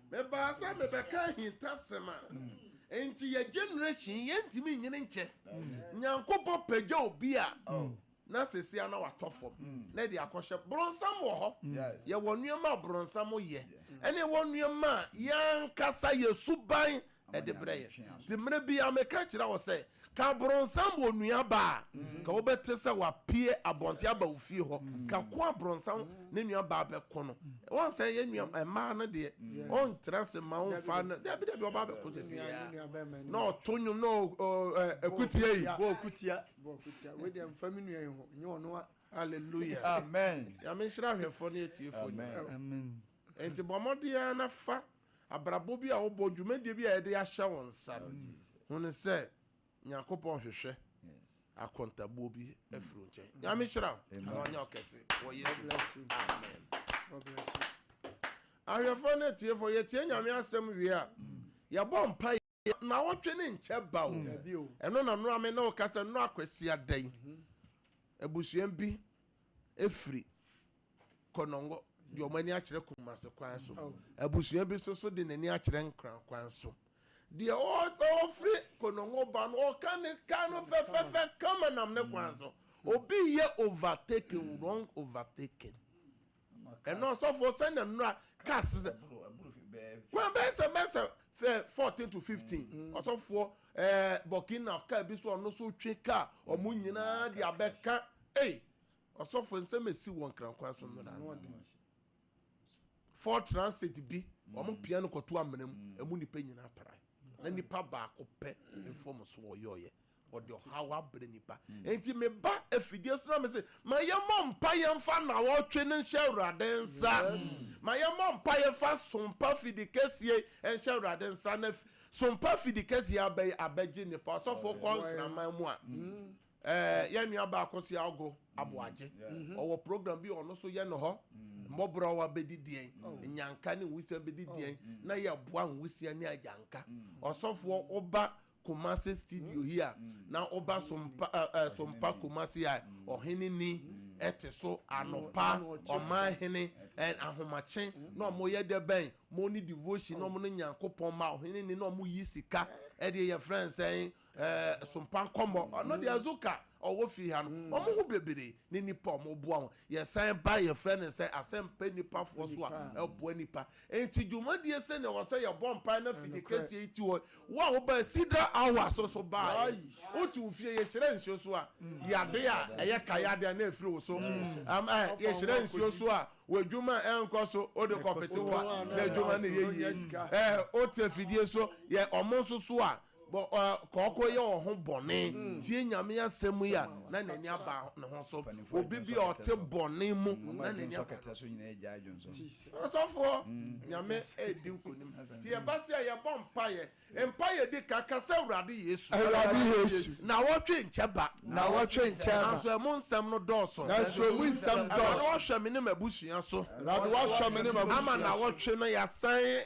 Mebaa sɛ mebɛka ahintasɛm a enti yɛ generation yi yɛntumi nyini nkyɛ. Nyankopɔn pagya obi a na sɛsi a na watɔ fam na ɛde akɔhyɛ. Bronsam wɔ hɔ. Yɛwɔ nneɛma a bronsam yɛ ɛne ɛwɔ nneɛma a yɛn ankasa yɛ suban de brɛ yɛn. Nti mmerɛ biara meka kyerɛ wo sɛ, ka abronsam wɔ onua ba a, ka wobɛte sɛ wapue abɔnten aba wo fie hɔ, ka ko abronsam ne nua baa bɛko no. Wɔn sɛ yɛ nua mmaa no deɛ, wɔn tena ase ma wɔn fa no, dabi dabi ɔbaa bɛko sɛ sɛ yɛ, na ɔto nwom na ɔkutia yi. Bɔ ɔkutia, bɔ ɔkutia, wei deɛ mfa me nua yi ho, nyɛ ɔno a. Hallelujah. Amen. Nyame nhyira ahwɛfoɔ ne atiefoɔ nyinaa. Amen. Nti bɔ mmɔden ara na fa. abrabɔ bi a wobɔ, dwumadie bi a yɛde ahyɛ wo nsa no, hunu sɛ Nyankopɔn hwehwɛ akontabuo bi afiri wo nkyɛn. Nyame hyira wo na ɔnyɛ ɔkɛse wɔ Yesu din. Amen. Ahwɛfoɔ ne atiefoɔ, yɛtie Nyame asɛm wie a, yɛbɔ mpaeɛ. Naawɔtwe ne nkyɛ ba o. Ɛno na nora me ne wo kasa nora kwasia dɛn. Mhm. Abusua bi efiri kɔnɔngɔ de wɔn ani akyerɛ kumase kwan so. Oh. Abusua bi soso de n'ani akyerɛ nkran kwan so. Deɛ ɔfiri kɔnɔngɔ ba no ɔka ne ka no fɛfɛfɛ kama nam ne kwan so. Mm. Obi yɛ overtaking wrong overtaking. ɛno ɔsɔfoɔ sɛ na nnura kaa se sɛ kwan bɛyɛ sɛ bɛyɛ sɛ fɛ fourteen to fifteen mm-hmm. ɔsɔfoɔ ɛɛ burkina kaa bi so ɔno so twe kaa ɔmo nyinaa de abɛka ee ɔsɔfoɔ nsɛm esi wɔn krankwan so nnura four transit bi mm-hmm. ɔmo pia no kɔto amena mu mm-hmm. emu nipa nyinaa para na nipa baako pɛ nfɔm so ɔyɛ ɔyɛ Ɔde ɔhaw abrɛ nnipa. Enti me ba afidie so na me se, ma yɛmmɔ mpaeɛ mfa nnawɔtwe no nhyɛ Awurade nsa. Ma yɛmmɔ mpaeɛ mfa Sompa Afidikɛseɛ yi nhyɛ Awurade nsa na Sompa Afidikɛseɛ yi aba yi abɛgye nnipa. Ɔsɔfo wokɔ Nkraman mu a, ɛɛ yɛn nua baako se Aogo Aboagye, ɔwɔ program bi a ɔno nso yɛ no hɔ. Mmɔborɔwa bɛdi deɛn? Nnyanka ne nwisiaa bɛdi deɛn? Na yɛboa nwisiaa ne agyanka. Ɔsɔfoɔ woba Kumasi studio yi a na woba Sompa ɛ ɛ Sompa Kumasi a ɔhene ni te so anɔpa, ɔman hene ɛ ahomakye na ɔmo yɛ dɛ bɛn mo ne devotion na ɔmo ne Nyankopɔn ma ɔhene ni na ɔmo yi sika ɛdeɛ yɛ frɛ no sɛn ɛ Sompa nkɔmɔ ɔno deɛ Azuka ɔwɔ fie ha no ɔmo ho bebree ne nipa ɔmo boa wɔn. Yɛsan ba a, yɛfrɛ no sɛ asɛmpa nnipa foɔ so a ɛboa nnipa. Enti dwumadie sɛdeɛ wɔ sɛ yɛbɔ mpaeɛ na fidie kɛseɛ yi ti hɔ. Wo a wobaa Cedar Hours no so baeɛ. Wote wo fie yɛhyira nsuo so a, yadeɛ a ɛyɛ ka yadeɛ a na ɛfiri wo so. Am I? Yɛhyira nsuo so a, w'adwuma a ɛnkɔ so wode kɔpete hɔ a, na adwuma no yɛ yie. Eh, wote fidie so yɛ wɔn nso so a, kɔkɔ yɛ wɔn ho bɔne tie Nyame asɛm yi a na n'ani aba ne ho so. Obi bi a ɔte bɔne mu na n'ani aba ne so. Ɔsɔfoɔ, Nyame edi nkonim. Ti ɛba sɛ yɛbɔ mpaeɛ, mpaeɛ di ka ka sɛ Awurade Yesu. Awurade Yesu. Nawɔtwe nkyɛ ba. Nawɔtwe nkyɛ ba. Nanso ɛmu nsɛm no dɔɔso. Nanso ɛmu nsɛm dɔɔso. Awurade wɔhwɛ me ne m'abusua so. Awurade wɔhwɛ me ne m'abusua so. Ama nawɔtwe no yɛasan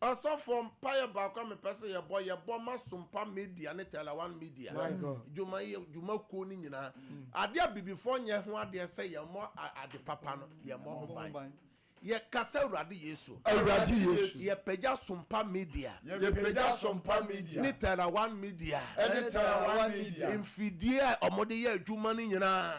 Ɔsɔfoɔ mpaeɛ baako a mepɛ sɛ yɛbɔ, yɛbɔ ma Sumpa Media ne Tela One Media dwuma yi dwuma kuo no nyinaa. Adeɛ abibifoɔ nyɛ ho adeɛ sɛ yɛn mmɔ ade papa no, yɛn mmɔ ho ban. Yɛ ka sɛ Awurade Yesu. Awurade Yesu. Yɛ pagya Sumpa Media. Yɛ pagya Sumpa Media. Ne Tela One Media. Ɛne Tela One Media. Mfidie a wɔde yɛ adwuma no nyinaa.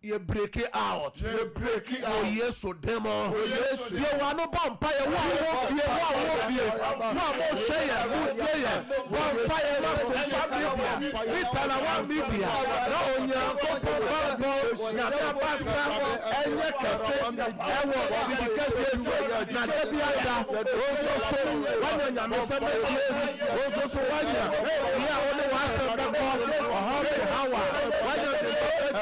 Yɛ breaki out wɔ Yesu din mu. Bue w'ano bɔ mpaeɛ. Wo a wowɔ fie, wo a wowɔ fie, mo a mohwɛ yɛn, motie yɛn, bɔ mpaeɛ ma Central Media, ne Talawa Media, na Onyankopɔn bammɔ, Nyame abasa, ɛnyɛ kɛse ɛwɔ biribi kɛseɛ so. Na da biara da, wo nso so woanya Nyamesɛm atie, wo nso so woanya bea a wode w'asɛm bɛkɔ, ɔhaw ne haw a, woanya ne mma atie.